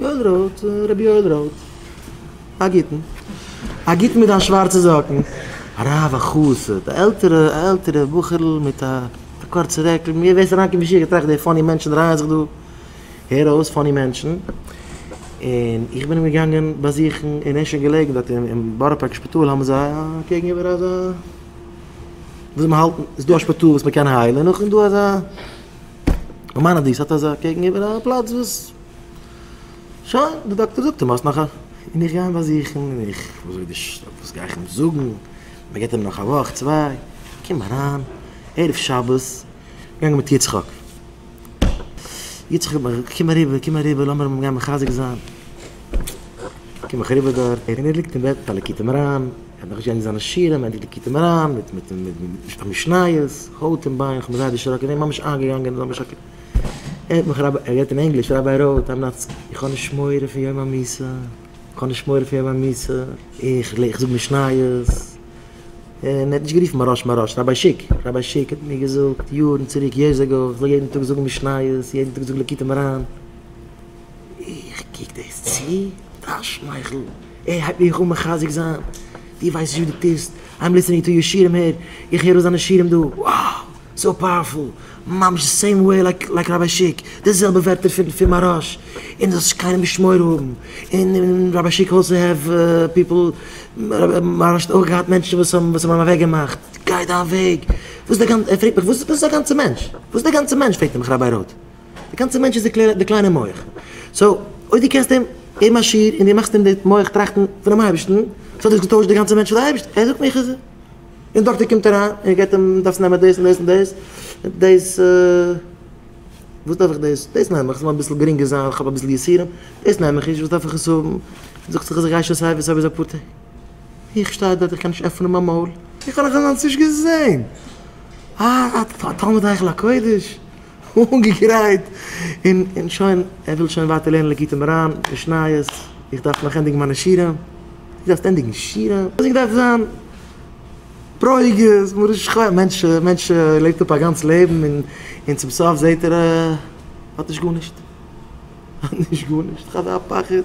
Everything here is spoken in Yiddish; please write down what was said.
יואל רויט, רבי יואל רויט. א גוטן. א גוטן מיט דיין שווארצע זאקן. הרב א חסיד, א עלטערע, א עלטערע בחור'ל מיט א קורצע רעקל, מיר וועסט אריינקומען אין שיעור געטראכט די פאני מענטשן דרייען זיך דא, הער אויס פאני מענטשן, און איך בין אים געגאנגען באזוכן און ער איז שוין געלעגן דארט אין בארא פארק שפיטאל האבן זיי א קעגן איבער אזא וואס מ'האלט, ס'דא א שפיטאל וואס מ'קען היילן און נאכדעם איז דא אזא. מיימאנעדיס האט אזא קעגן איבער א פלאץ וואס שוין די דאקטער זאגט אים האסט נאך א און איך גיי אים באזוכן און איך וואס וועט די וואס גיי איך אים זאגן מען געבט אים נאך א וואך צוויי קום אריין ערב שבת געגאנגען מיט יצחק יצחק האט מיר קום אריבער קום אריבער לאמיר אים גיין מחזק זיין קום איך אריבער דארט און ער ליגט אין בעט א לקוטי מוהר ן. כ'האב נאך געזען זיינע שירים אין די ליקוטי מוהרן מיט מיט מיט משניות, הויט און ביין, כ'בין זייער דערשראקען, ער איז ממש איינגעגאנגען אזוי משא כ ער האט מיך רבי, ער רעדט אין ענגליש, רבי רוט, איים נאט, איך האב נישט מורא פון יום המיתה, איך האב נישט מורא פון יום המיתה, איך איך זאג משניות, און ער האט נישט גערופן מוהראש מוהראש, רבי שיק, רבי שיק האט מיר געזאגט יארן צוריק יערס עגאו, איך זאל יעדן טאג זאגן משניות, יעדן טאג זאגן ליקוטי מוהרן. איך קוק דאס צו מיט א שמייכל, ער הייבט מיך אן מחזק זיין, דו ווייסט נישט וואס דו טוסט, איים ליסטענינג טו יור שירים הער, איך הער אויס דיינע שירים דא, wow! סאו פאוערפול, ממש די סעים וועי לייק ראביי שיק, די זעלבע ווערטער פון מהראש, און דו זאלסט קיינעם נישט מורא האבן, און ראביי שיק אלסא העוו פיפל, מהראש האט אויך געהאט מענטשן וואס האבן אים אוועק געמאכט, גיי דיין וועג, וואס איז די גאנצע, ער פרעגט מיך וואס איז די גאנצע מענטש, וואס איז די גאנצע מענטש פרעגט ער מיך ראביי רוט. די גאנצע מענטש איז די קליינע מח. סאו אויב דו קענסט אים געבן א שיעור און דו מאכסט אים די מח טראכטן פונעם אייבערשטן, ס'האט דאס געטוישט די גאנצע מענטש פאר די אייבערשטן. ער זאגט מיר כ'זע. און דאקטער קומט אריין און געבט אים, דארפסט נעמען דאס און דאס און דאס. דאס וואס דארף איך דאס? דאס נעם איך ס'זאל אביסל גרינגער זיין ווייל כ'האב אביסל יסורים. דאס נעם איך נישט וואס דארף איך עס האבן? זאגט זיך אז איך גיי שוין סייווי סייווי ביז אפאר טעג. איך שטיי דארט איך קען נישט עפענען מיין מויל. איך האב נאך אזאנס נישט געזען. א תלמיד היכל הקודש. אנגעגרייט און שוין, ער וויל שוין ווייטער לערנען לקוטי מוהרן, משניות, איך דארף נאך ענדיגן מיינע שירה, דו דארפסט ענדיגן שירה? וואס איך דארף זיין ברוגז, מרה שחורה, מענטש מענטש לעבט אפ א גאנץ לעבן און און צום סוף זעהט ער ער האט נישט גארנישט, האט נישט גארנישט, כ'האב א פחד.